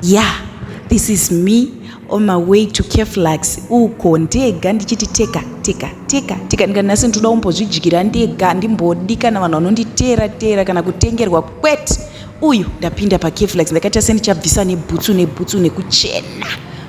Yeah, this is me on my way to Keflax uko ndega ndichiti teka teka teka teka ndika nhasi ndoda kumbozvidyira ndega ndimbodi kana vanhu vanonditeera teera kana kutengerwa kwete uyu ndapinda pakeflax ndakaita sendichabvisa nebhutsu nebhutsu nekuchena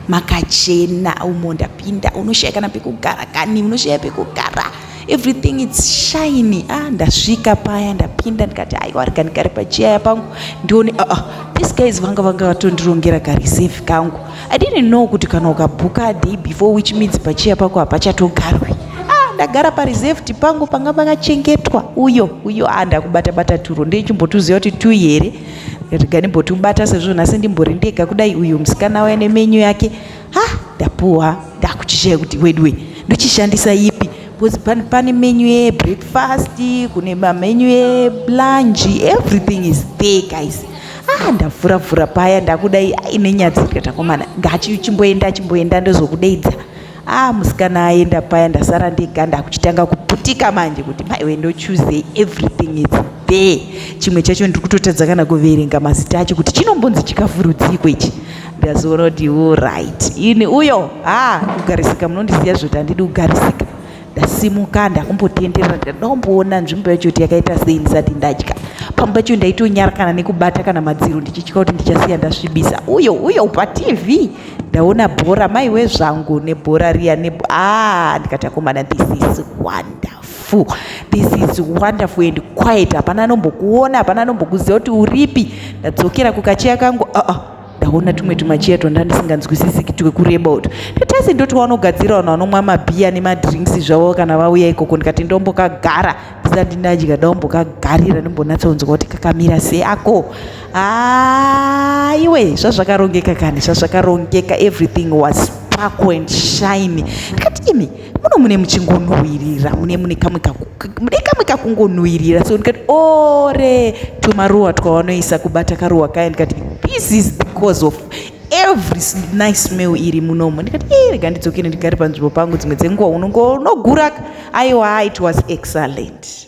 makachena umo ndapinda unoshaya kana pekugara kani unoshaya pekugara everything it's shiny ah ndasvika paya ndapinda ndikati aiwa rega ndigare pachiyaya pangu ndione uh, uh, this guys vanga vanga vatondirongera kareserve kangu i didn't know kuti kana ukabhuka day before which means pachiya pako hapachatogarwi ah ndagara pareserved pangu panga pakachengetwa uyo uyo ah ndakubata bata turo ndechimbotuziva kuti tu here rega ndimbotubata sezvo nhasi ndimbori ndega kudai uyu musikana waya nemenyu yake ha ndapuwa ndakuchishaya kuti weduwe ndochishandisa ipi because pane menu yebreakfast kune mamenu elunch everything is there guys ah ndavhura vhura paya ndakudai ine nyadzi ndikatakomana ngachimboenda chimboenda ndozokudeidza ah musikana aenda paya ndasara ndega ndakuchitanga kuputika manje kuti maiwe ndochuse everything is there chimwe chacho ndiri kutotadza kana kuverenga mazita acho kuti chinombonzi chikafurudziko ichi ndazoona kuti iwo right ini uyo ha kugarisika munondisiya zvoti handidi kugarisika ndasimuka ndakumbotenderera ndanomboona nzvimbo yacho kuti yakaita sei ndisati ndadya pamwe pacho ndaitonyarakana nekubata kana madziro ndichitya kuti ndichasiya ndasvibisa uyo uyo patv ndaona bhora maiwe zvangu nebhora riya ne ah ndikatakomana this is wonderful this is wonderful and quiet hapana anombokuona hapana anombokuziva kuti uripi ndadzokera kukacheya kangu uh -uh. ndaona tumwe tumachiya twanda ndisinganzwisisi twekureba uto tatasi ndoti wanogadzira vanhu vanomwa mabhiya nemadrinks zvavo kana vauya ikoko ndikati ndombokagara ndisati ndadya ndombokagarira ndombonatsonzwa kuti kakamira seako haiwe zvazvakarongeka kani zvazvakarongeka everything was spark and shine ndikati imi muno mune muchingonhuwirira mune mune kamwe mune kamwe kakungonhuwirira so ndikati ore tumaruwa twawanoisa kubata karuwa kaya ndikati this is because of every nice smell iri munomo ndikati e rega ndidzokere ndigare panzvimbo pangu dzimwe dzenguva unongonoguraka aiwa it was excellent